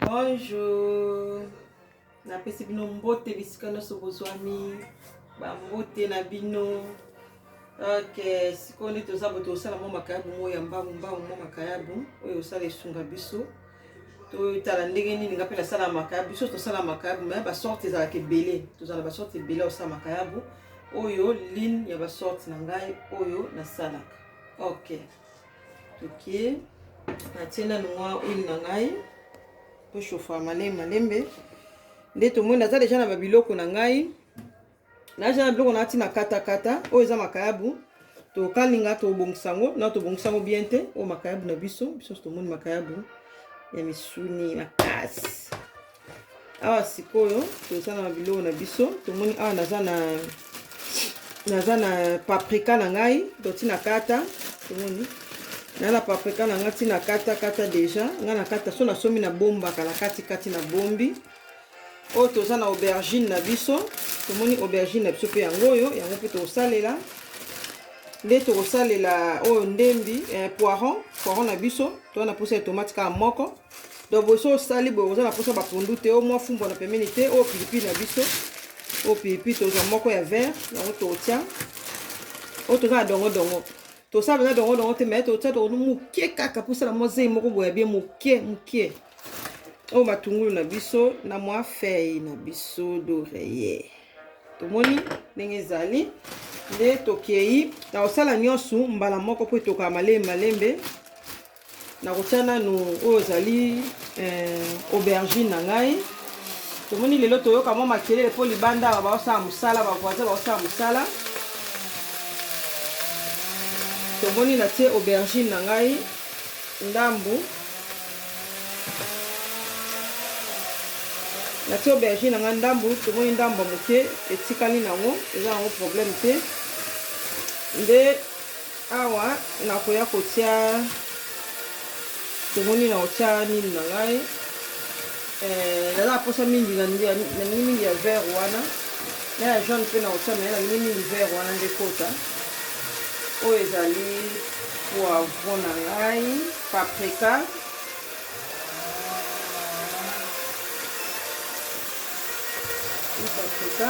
Bonjour. Napesi bino mbote bisika nyonso bozwami. Ba mbote na bino. Ok, sikoyo nde toza bo tosala mwa makayabu moko ya mbangu mbangu mwa makayabu oyo osala esunga biso. Totala ndenge nini nga mpe nasala makayabu. Biso tosala makayabu mais ba sorte ezalaka ebele. Tozala ba sorte ebele osala makayabu. Oyo ligne ya ba sorte na ngai oyo nasalaka. Ok. ok natie nanu mwa huile na ngai po chauffa malembe malembe nde tomoni naza deja na babiloko na ngai naja na biloko nati na katakata oyo eza makayabu tokalinga tobongisa yango na tobongisa yango bien te oyo makayabu na biso biso tomoni makayabu ya misuni makasi awa sikoyo toza na biloko na biso tomoni awa naza na naza na paprika na ngai to ntina kata tomoni na na paprika na ngai ntina kata kata deja ngai na kata so nasomi na bombaka na kati kati na bombi oyo toza na aubergine na biso tomoni aubergine na biso mpe yango oyo yango mpe tokosalela nde tokosalela oyo ndembi eh, poiron poiron na biso toza na mposa ya tomate kaka moko donc boso osali boye oza na mposa bapondu te o mwa fumbwa na pembeni te oyo pilipili na biso oyo pilipili tozwa moko ya vert yango totya oyo toza na dongodongo tosala mpenza dongodongo te mai totya dongodo moke kaka mposala mwa zei moko boya bie moke moke oyo matungulu na biso na mwa fei na biso doreye tomoni ndenge ezali nde tokei na kosala nyonso mbala moko mpo etokaka malembe malembe Nakotia nanu oyo ezali eh, aubergine na ngai. Tomoni lelo toyoka mwa makelele mpo libanda awa baosala mosala, bavoisin baosala mosala. Tomoni natie aubergine na ngai ndambu natie aubergine na ngai ndambu tomoni ndambu ya moke etikali nango eza nango problème te nde Awa nakoya kotia tomoni na kotia nini na ngai eh, naza naposa mingi nalingi mingi ya vert wana na ya jaune mpe na kotia mai nalingi mingi vert wana nde kota oyo ezali poivron na ngai paprika paprika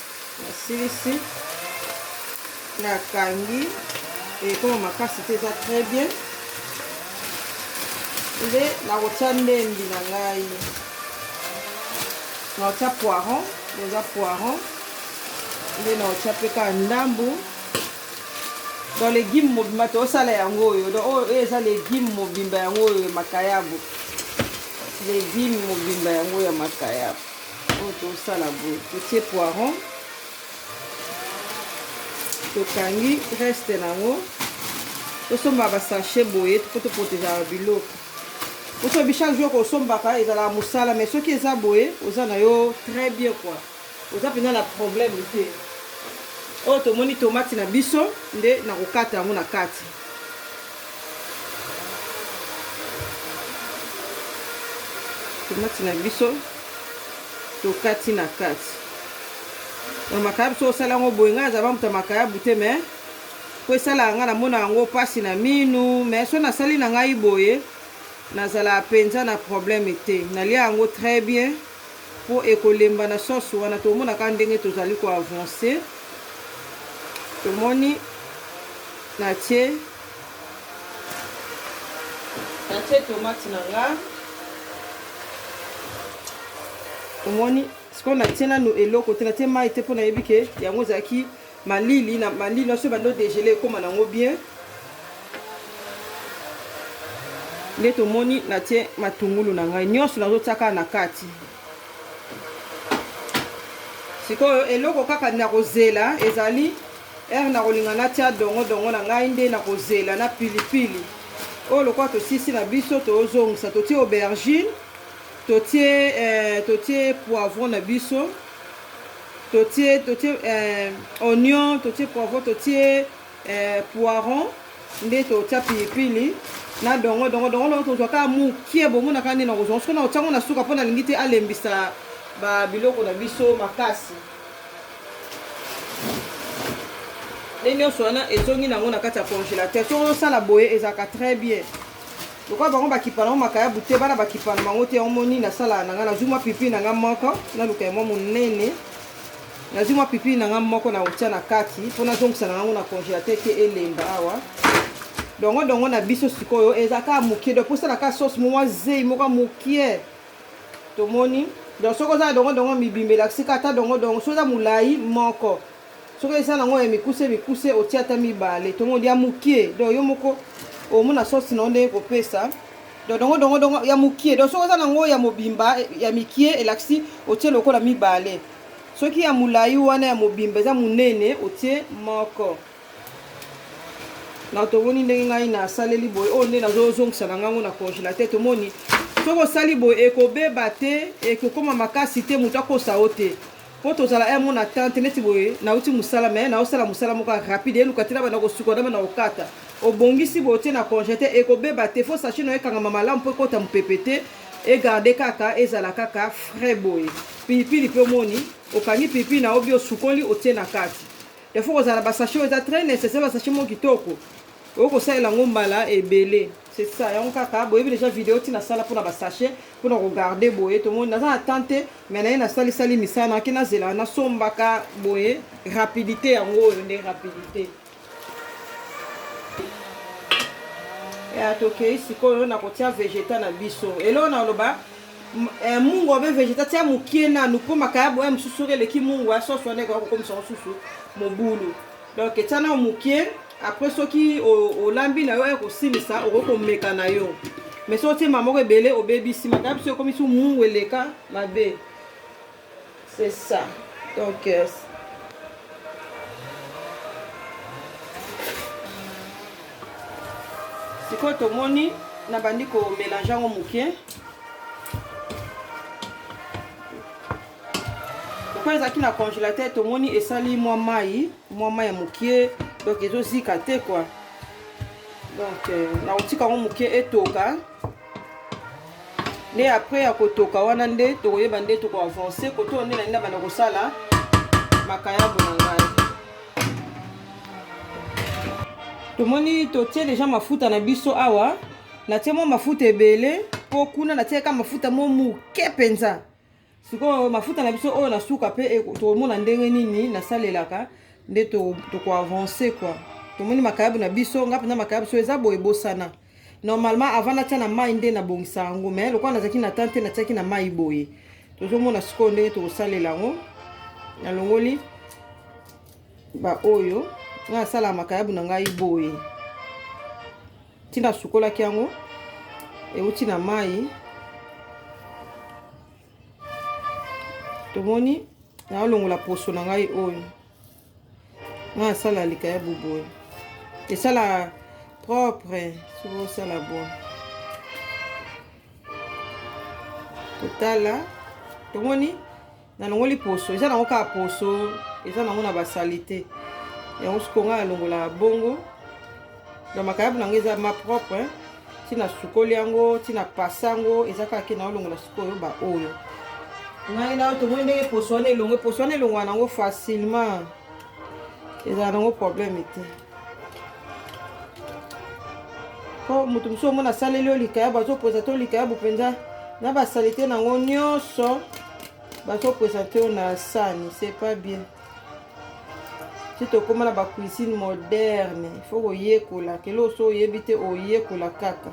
nasilisi nakangi ekoma makasi te eza très bien nde nakotya ndembi na ngai nakotya poiron eza poiron nde nakotya mpe kaka ndambu donc legume mobimba tosala yango oyo donc oyo oh, eza legume mobimba yango oyo makayabo legume mobimba yango ya makayabo oyo tosala boye totie poiron tokangi reste na yango tosomba basachet boye mpo toprotejaka biloko osobi chaque jour kosombaka ezalaka mosala mais soki eza boye oza na yo très bien kua oza mpenza na problème te oyo tomoni tomati na biso nde nakokata yango na kati tomati na biso tokati na kati donc makayabu soki osala yango boye ngai azala bamuta makayabu te me mpo esalaka ngai namona yango mpasi na minu me soki nasali na ngai boye nazalaka mpenza na probleme te nalia yango très bien po ekolemba na sens wana tomona kaka ndenge tozali ko avancer tomoni na tie na tie tomate na nga omoni sikoyo na tie nanu eloko te na tie mai te po nayebi ke yango ezalaki Malili na malili na biso ebandi o degeler ekoma na yango bien. Nde tomoni natie matungulu na ngai nyonso nazotia kaka na kati. Sikoyo eloko kaka nakozela ezali ere nakolinga natia dongo dongo na ngai nde nakozela na pilipili oyo lokola tosisi na biso tozongisa totie aubergine totie eh, totie poivron na biso totie totie eh, oignon totie poivron totie eh, poiron nde totia pilipili na dongo dongo dongo dongo tozwa kaka mokie bomonaka nde nakozwa soki na otyango na suka mpo nalingi te alembisa babiloko na biso makasi nde nyonso wana ezongi nango na kati ya congélateur soki osala boye ezalaka très bien lokola bango bakipa nango makayabu te bana bakipa na bango te yango moni nasala na ngai nazwi mwa pipi na ngai moko naluka ya mwa monene nazwi mwa pipi na ngai moko na otya na kati mpo nazongisa na yango na congélateur te elemba awa dongo dongo na biso sikoyo eza kaka mokie donc mposala kaka sauce mwa zei moko mokie tomoni donc soki oza na dongo dongo mibimba elakisi kaka ata dongo dongo soki oza molai moko Soki eza nango ya mikuse mikuse otia ata mibale tongo ya mukie donc yo moko omona sauce na ndenge kopesa donc dongo dongo dongo ya mukie donc soki eza nango ya mobimba ya mikie elakisi otie lokola mibale soki ya mulayi wana ya mobimba eza munene otie moko na tomoni ndenge ngai nasaleli boye oyo nde nazozongisa na ngango na congelateur tomoni soki osali boye ekobeba te ekokoma makasi te moto akosa yo te po tozala un mona tante neti boye nauti mosala me naosala mosala moko ya rapide eluka te na banda kosuka na banda kokata obongisi boye otie na conge te ekobeba te fo sache na yo ekangama malamu mpo ekota mopepe te egarde kaka ezala kaka frais boye pilipili mpe omoni okangi pilipili na obi osukoli otie na kati defo kozala basache oyo eza très nécessaire basache moko kitoko oyo kosalela yango mbala ebele c'est ça yango kaka boyebi deja video ntina asala mpona basache mpona kogarde boye tomoni naza na temps te mais naye nasali sali misala naki nazela nasombaka boye rapidité yango oyo nde rapidité ya tokei sikoyo nakotia vegeta na biso eloo naloba eh, mungu obe vegeta tia mokie nanu mpo makaya boya mosusu soki eleki mungu ya soso wana ekoya kokomisa mosusu mobulu donc etia nao mokie après soki olambi na yo ya kosilisa okoki komeka na yo mais soki otie mbala moko ebele obebisi makaya biso ekomisi mungu eleka mabe c'est ça donc euh, sikoyo tomoni nabandi komelange yango moke lokola ezalaki na congélateur tomoni esali mwa mai mwa mai ya mokie donc ezozika te kua donc euh, nakotika yango mokie etoka nde apres ya kotoka wana nde tokoyeba nde tokoavanse kotoyo nde nalinda banda kosala makayabo na ngai tomoni totie deja mafuta na biso awa natie mwa mafuta ebele mpo kuna natieka mafuta mo moke mpenza sikoyo mafuta na biso oyo na suka mpe e, tokomona ndenge nini nasalelaka nde tokoavance to kua tomoni makayabu na biso nga mpenza makayabu so eza boye bosana normalement avant natia na mai nde nabongisa yango mais lokola nazalaki na temps te natiaki na mai boye tozomona sikoyo ndenge tokosalela yango nalongoli baoyo nga nasala makayabu na ngai boye ntina asukolaki yango euti na mai tomoni naolongola poso na ngai oyo na asala likaya boboye esala propre soki osala boye totala tomoni nalongoli poso eza nango kaka poso eza nango na basalite yango sikoyo ngai nalongola bongo na makayabu nango eza ma propre ntina sukoli yango ntina pasa yango eza kaka ke naolongola sikoyo baoyo ngai nao tomoni ndenge poso wana elongwe poso wana elongwa nango facilement ezala nango probleme te mpo moto mosusu omona asaleli yo likayabu azopresente yo likayabu mpenza na basalite na yango nyonso bazopresente yo na sani c'est pas bien ti tokóma na bacuisine moderne ifo koyekola kelo oso oyebi te oyekola kaka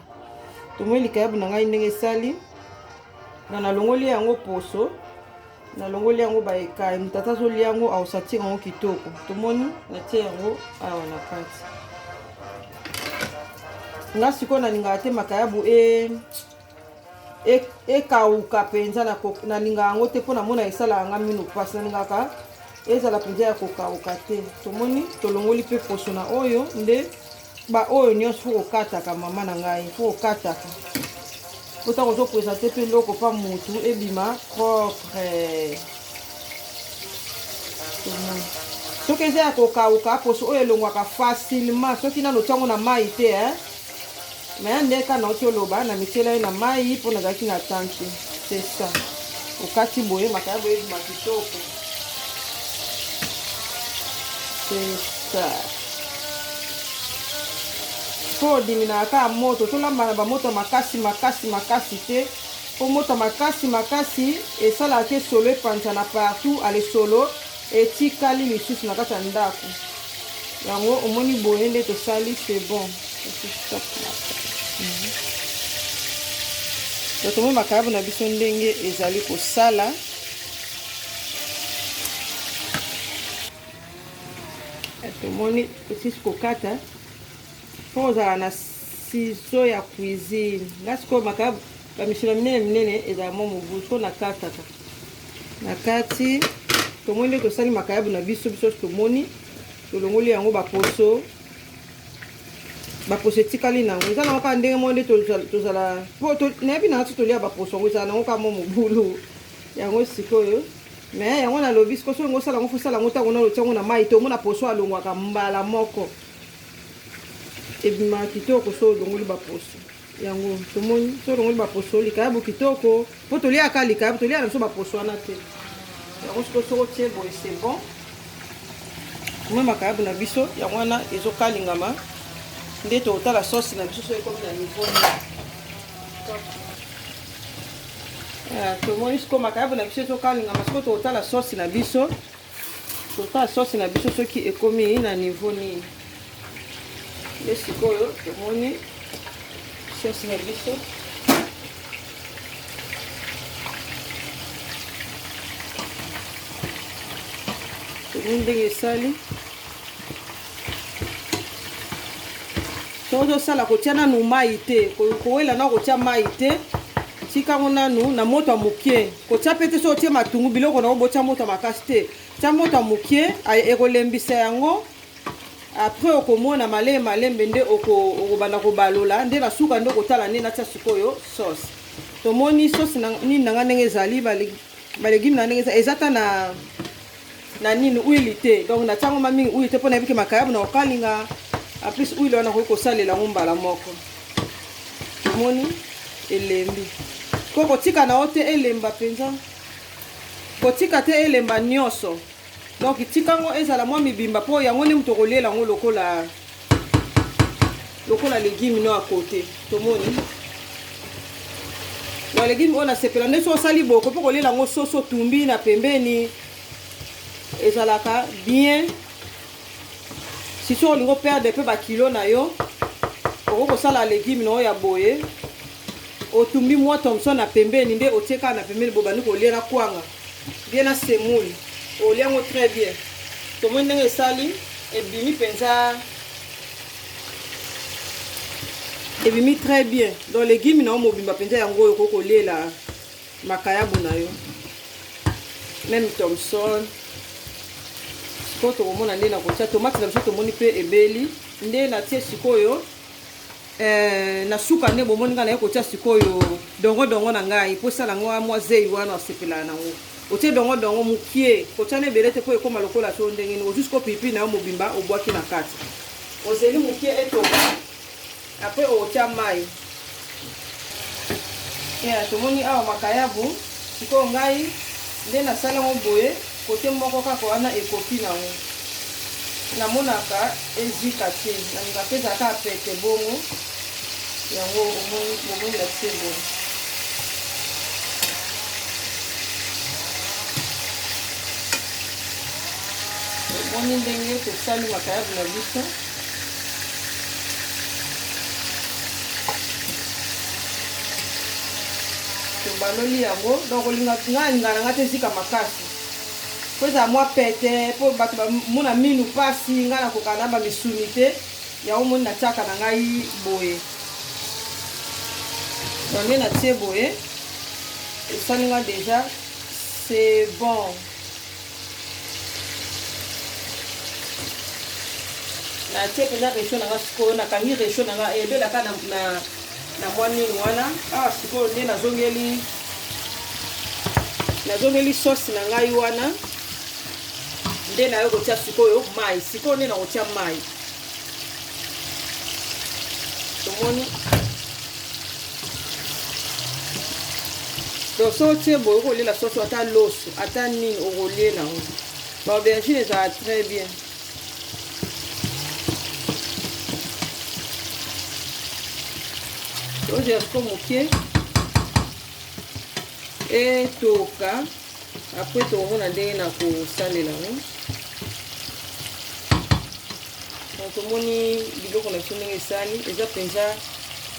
tomoni likayabu na ngai ndenge esali na nalongoli yango poso nalongoli yango baekaye moto ata azolia yango aosatire yango kitoko tomoni natie yango awa na kati nga sikoyo nalingaka te makayabu e ekauka e mpenza nalinga yango te mpo namona esalaka nga mino mpasi nalingaka ezala mpenza ya kokauka te tomoni tolongoli mpe poso na oyo nde ba oyo nyonso fo kokataka mama na ngai fo kokataka po ntango ozopresente mpe eloko mpa motu ebima propre soki eza ya kokauka poso oyo elongwaka facilement soki nano ntiango na mai te e me ya ndeka nauti oloba na mityela ye na mai mpo nazalaki na tanki te c'est ça okati boye makaya boye ebima kitoko Sesa. Mpo odiminaka kaka moto, tolamba na bamoto makasi makasi makasi te. Mpo moto makasi makasi esalaka te solo epanzana partout, ale solo etikali lisusu na kati ya ndako. Yango omoni boye nde tosali, c'est bon. Totomoni makayabu na biso ndenge ezali kosala. tomoni tosisi kokata mpo ozala na siso ya cuisine nga sikoyo maka bamisolo minene minene ezala mwa mobu so nakataka na kati tomoni nde tosali makayabu na biso biso tomoni tolongoli yango baposo baposo etikali na yango eza nango kaka ndenge moko nde tozala mpo nayebi na ngai so tolia baposo yango ezala nango kaka mwa mobulu yango sikoyo me yango nalobi sikoyo soki ngosala yango fosala yango ntango nano tiango na mai te omona poso alongwaka mbala moko ebimaka kitoko so olongoli baposo yango tomoni so olongoli baposo likayabu kitoko mpo toliaka likayabu toliaka na biso baposo wana te yango sikoyo soko tie boye se bon omoi makayabu na biso yango wana ezokalingama nde totala sosi na biso so ekomi na niveau Eh, tomoni sikoyo makayabu na biso ezokalingama sikoyo tokotala sosi na biso totala sosi na biso soki ekomi na niveau nini nde sikoyo tomoni sosi na biso tomoni ndenge esali soki ozosala kotia nanu mai te kowela na kotia mai te tikango nanu na moto ya moke kotia mpe te soki otie matungu biloko na obotia moto ya makasi te tia moto ya moke ekolembisa yango apres okomona malembe malembe nde okobanda kobalola nde na suka nde okotala nde natia sikoyo sauce tomoni sauce nini na ngai ndenge ezali balegime na ndenge eza ata na na nini huile te donc na tiango ma mingi huile te mpona yebi ke makayabu na kokalinga en plus huile wana okoki kosalela yango mbala moko omoni elembi mpo kotika na yo te elemba mpenza kotika te elemba nyonso donc tika yango ezala mwa mibimba mpo yango nde moto okoliela yango lokola lokola legume no ya kote tomoni na legume oyo nasepela nde so osali boko mpe kolela yango soso tumbi na pembeni ezalaka bien sisi olingi operde mpe bakilo na yo okoki kosala legume na oyo ya boye Otumbi mwa thomson na pembeni nde otie kaka na pembeni bo bandi kolia na kwanga bien na semoule. Olia yango très bien. Tomoni ndenge esali ebimi penza. Ebimi très bien. Donc legume na yo mobimba penza yango oyo okoki koliela makayabu na yo. Même thomson. Sikoyo tokomona nde na kotia tomate na biso tomoni mpe ebeli nde natie sikoyo Eh, na suka nde bomoni ngai naye kotia sikoyo dongo dongo na ngai mpo esala yango mwa zei wana asepelaka nango otie dongo dongo mokie kotia na ebele te mpo ekoma lokola to ndenge nini ozwi siko pipi na yo mobimba obwaki na kati ozeli mokie etoka apres otia mai ya tomoni awa makayabu sikoyo ngai nde nasala yango boye Cote moko kaka wana ekoki na ngo namonaka ezika te nalinga pe ezala kaka pete bongo yango omoni bomoni na tie boye omoni ndenge tosali makayabu na biso tobaloli yango donc olinga nga alinga na nga te ezika makasi mpo ezala mwa pete mpo bato bamona minu mpasi nga nakoka na bamisuni te yango moni natiaka na ngai boye yango natie boye esali nga deja c'est bon natie mpenza resho na nga sikoyo nakangi resho na nga ebelaka na, na, na mwa nini wana awa ah, sikoyo nde nazongeli nazongeli sauce na ngai wana nde nayo kotia sikoyo mai sikoyo nde nakotia mai tomoni donc so otie boye okolela soso ata loso ata nini okolela yango baaubergine ezala très bien ogerco moke etoka Après tokomona ndenge na kosalela yango. Donc tomoni biloko na biso ndenge esali, eza mpenza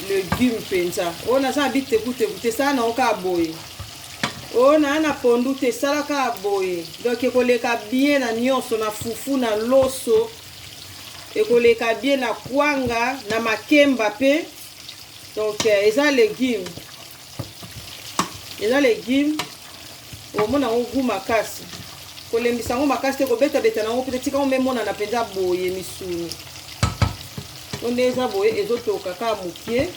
legume mpenza. Oyo naza na bitekuteku te, sala nango kaka boye. Oyo naa na pondu te, sala kaka boye. Donc ekoleka bien na nyonso, na fufu, na loso, ekoleka bien na kwanga, na makemba mpe. Donc eza legume. eza legume omona yango gu makasi kolembisa yango makasi te kobetabeta na yango mpe tika yango emonana mpenza boye misuni to nde eza boye ezotoka kaka mokie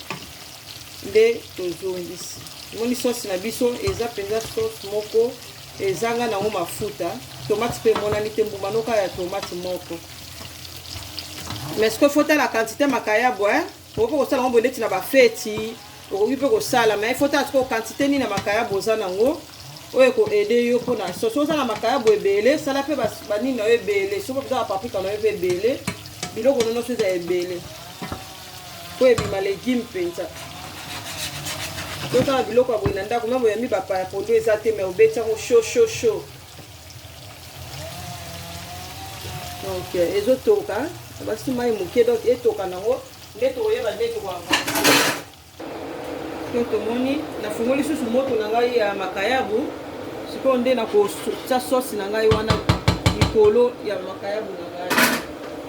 nde tozongisi omoni sosi na biso eza mpenza sosi moko ezanga nango mafuta tomate mpe emonani te mbuma noka ya tomate moko mais soki fotala quantité makayabo eh? okoki kosala yango boye ndeti na bafeti okoki mpe kosala mai fo tala sikoyo kantite nini na makayabo oza nango oyo ekoede yo mpo na soso oza na makayabo ebele sala mpe banini na yo ebele soki oza na paprika na yo mpe ebele biloko no nyonso eza ebele mpo ebima legume mpenza tozala biloko ya boye na ndako meme oyambi bapaya pondu eza te mai obeti yango shosho sho, sho. donc euh, ezotoka basi mai moke donc etoka nango nde tokoyeba nde tokoyamba to tomoni nafungoli lisusu moto na ngai ya makayabu sikoyo nde nakotya sosi na ngai wana likolo ya makayabu na ngai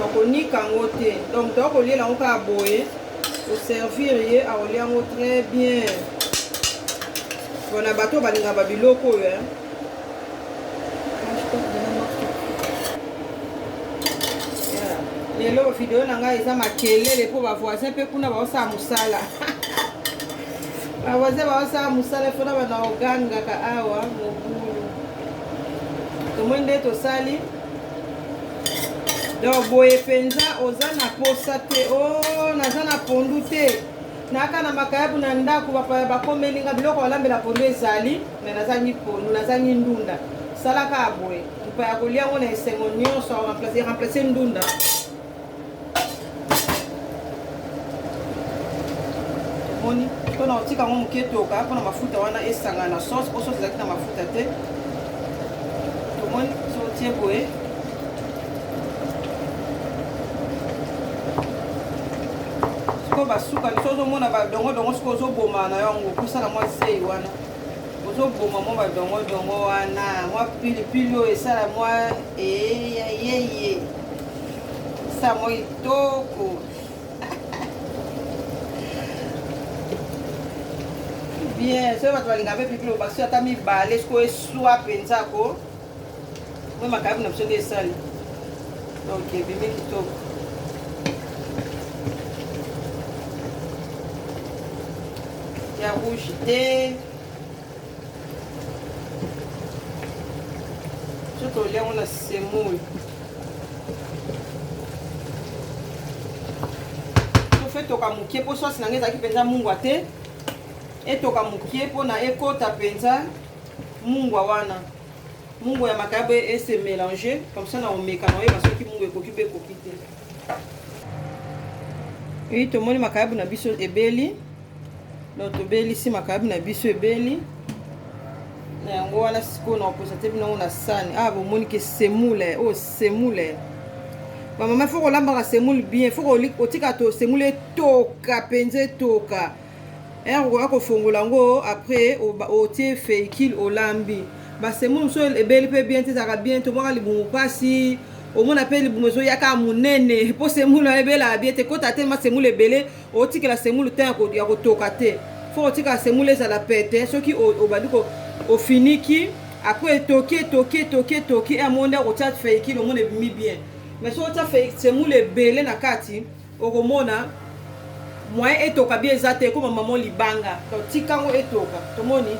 bakonika yango te donc toya koliela yango kaka boye oservir ye akolia yango très bien mpona bato balingaka babiloko oyo eh. lelo video na ngai eza makelele mpo bavoisin mpe kuna baosala mosala bawaze baosala mosala efo na bana ogangaka awa mobulu tomoi nde tosali donc boye mpenza oza na posa te o oh, naza na pondu te naka na makayabu na ndako bapaya bakomeli nga biloko balambela pondu ezali me nazangi pondu nazangi ndunda salaka boye mpa ya kolia yango na esengo nyonso remplace ndunda omoni mpona otika yango moke toka mpona mafuta wana esangana na sauce mpo sauce ezalaki na mafuta te tomoni so otie boye sikoyo basuka biso ozomona badongodongo sikoyo ozoboma na yango kosala mwa sei wana ozoboma mwa badongodongo wana mwa pilipili oyo esala mwa eyeyeye sango itoko bien soki bato balinga mpe pipi loba soki ata mibale siko eswa mpenza ko mpe makayabu na biso nde esali donc ebimi kitoko ya rouge te Soki olia yango na semoule. Tofe toka moke mpo sosi na ngai ezalaki mpenza mungwa te. Etoka moke mpo na ekota mpenza mungwa wana. Mungwa ya makaya boye ese mélanger comme ça na omeka na oyeba soki mungwa ekoki mpe ekoki te. Oui, tomoni makayabu na biso ebeli. donc tobelisi makayabu na biso ebeli na yango wana sikoyo na koposa te binango na sani awa ah, bomoni ke semule oyo oh, semule bamama fo kolambaka semule bien fo otika to semule etoka mpenza etoka ere okoya kofongola yango après otie feikile olambi basemule mosusu ebeli mpe bien te ezalaka bien tomwaka libumu mpasi omona mpe libumu ezoyaka monene mpo semule ebelaka bie te kota te masemule ebele Otikela semulu temps yako yako toka te. Faut otika semulu ezala pete soki obandi ko ofiniki après etoki etoki etoki etoki et amonde akotia feiki lomona ebimi bien. Mais soki otia feiki semulu ebele na kati okomona moyen etoka bien eza te ekoma maman libanga. Donc tika ngo etoka. Tomoni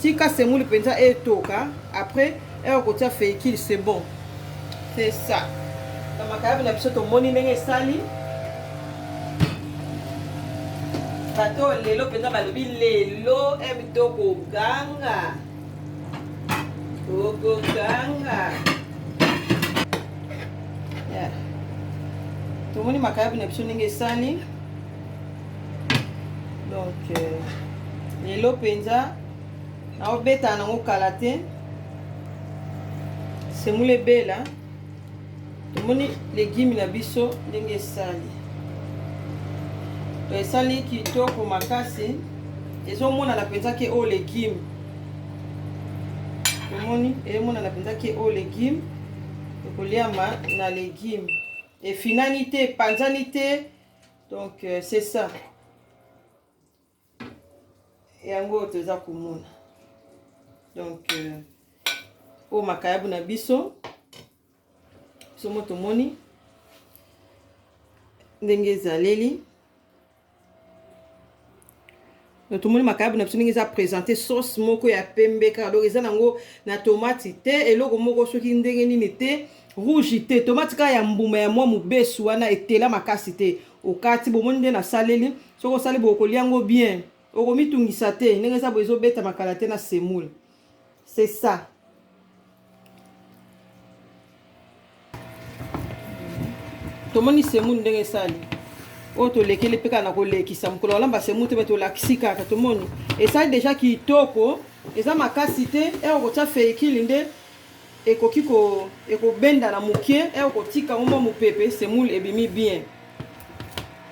tika semulu penza etoka après Heure okotia feikil c'est bon. C'est ça. Na makayabu na biso tomoni ndenge esali. Bato lelo mpenza balobi lelo emi tokoganga. Tokoganga. Yeah. Tomoni makayabu na biso ndenge esali. Donc euh, lelo mpenza naobetana nango kala te semoule ebela tomoni legime na biso ndenge esali to esali kitoko makasi ezomonana mpenza ke oyo legime tomoni ezomonana mpenza ke oyo legime ekoliama na legime efinani te epanzani te donc euh, c'est ça yango oyo toza komona donc euh, oyo makayabu na biso somo tomoni ndenge ezaleli donc tomoni makayabu na biso ndenge eza présente sauce moko ya pembe kaka donc eza nango na tomati te eloko moko soki ndenge nini te rouge te tomati kaka ya mbuma ya mwa mobesu wana etela makasi te okati bomoni nde nasaleli soki osali boye okolia yango bien okomitungisa te ndenge eza boye ezobetama kala te na semoule c'est ça tomoni semoule ndenge esali oyo tolekeli mpe kaka na kolekisa mokolo walamba semoule te me tolakisi kaka tomoni esali deja kitoko eza makasi te ere okotya feikili nde Ekoki ko ekobendana mukie eh, okotika yango mwa mupepe, semoule ebimi bien.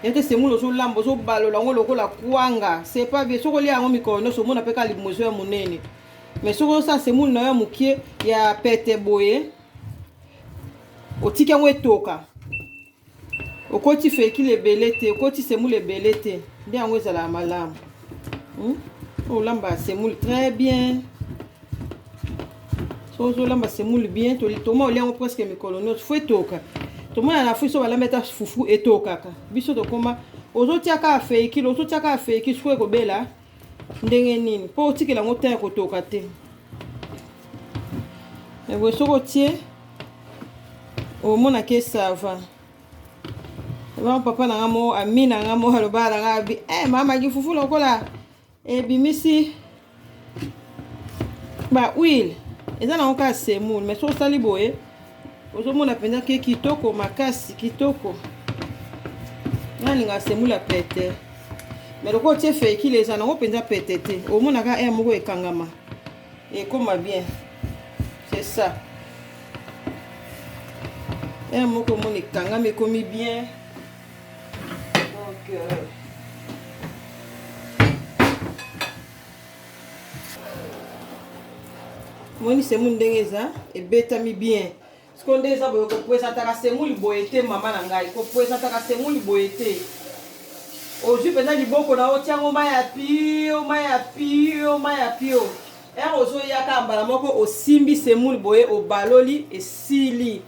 Yete semoule ozolamba ozobalola yango lokola kwanga, c'est pas bien. Soki olia yango mikolo nyonso omona pe kaka libumu ezo ya munene. Mais soki osala semoule na yo ya mukie ya pete boye, otiki yango etoka. Okoti fekile ebele te, okoti semoule ebele te, nde yango ezalaka malamu. Hmm? Olamba semoule très bien. So ozolamba semoule bien, toma olia yango presque mikolo nyonso, fo etoka. Tomona na Afrique so balambi ata fufu etokaka. Biso tokoma ozotia kaka fekile, ozotia kaka fekile, sikoyo ekobela. ndenge nini mpo otikela yango temps ya kotoka te eboye soki otie omonaki esava ebama papa na nga moko ami na nga moko alobaka na nga abi e eh, mama kifufu lokola ebimisi ba huile eza nango kaka semoule mais soki osali boye ozomona mpenza ke kitoko makasi kitoko nalinga asemula pete me lokola otie feikile eza nango mpenza pete te omonaka aire moko ekangama ekoma bien c'est ça aire moko omona ekangama ekomi bien donc euh, moni semule ndenge eza ebetami bien sikoyo nde eza boye kopresentaka semule boye te mama na ngai kopresentaka semule boye te ozwi mpenza liboko na otyango mai ya pio mai ya pio mai ya pio ere ozoyaka mbala moko osimbi semule boye obaloli esili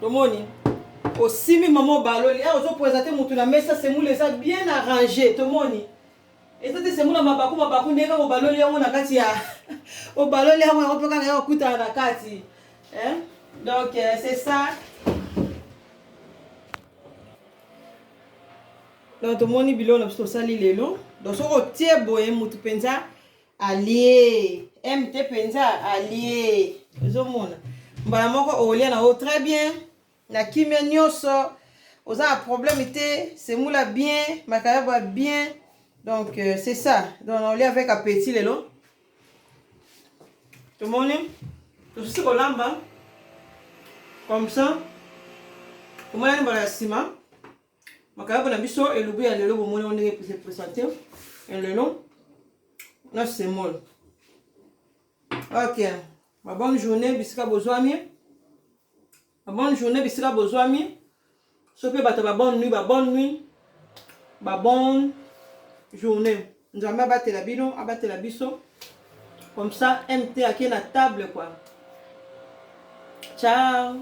tomoni osimbi mama obaloli ere ozopresente motu na mesa semule eza bien arrange tomoni Eza te semu na mabaku mabaku nde kaka obaloli yango na kati ya obaloli yango yango mpe kaka ya okutana na kati hein? donc euh, c'est ça donc tomoni biloko na biso tosali lelo donc soki otie boye motu mpenza alie m te mpenza alie ozomona mbala moko olia na yo très bien Na kimia nioso oza na problème te semula bien makayaba bien donc euh, c'est ça donc on lia avec appétit lelo tomoni tosusi kolamba comme ça tomonani mbala ya nsima makayabo na biso elubu ya lelo bomoni ngo ndenge se présente ya lelo na semol ok Ma bonne journée bisika bozwami. Ma bonne journée bisika bozwami. So pe bato ba bonne nuit, ba bonne nuit. Ba bonne journée. Nzambe abatela bino, abatela biso. Comme ça, MT a qui la table, quoi. Ciao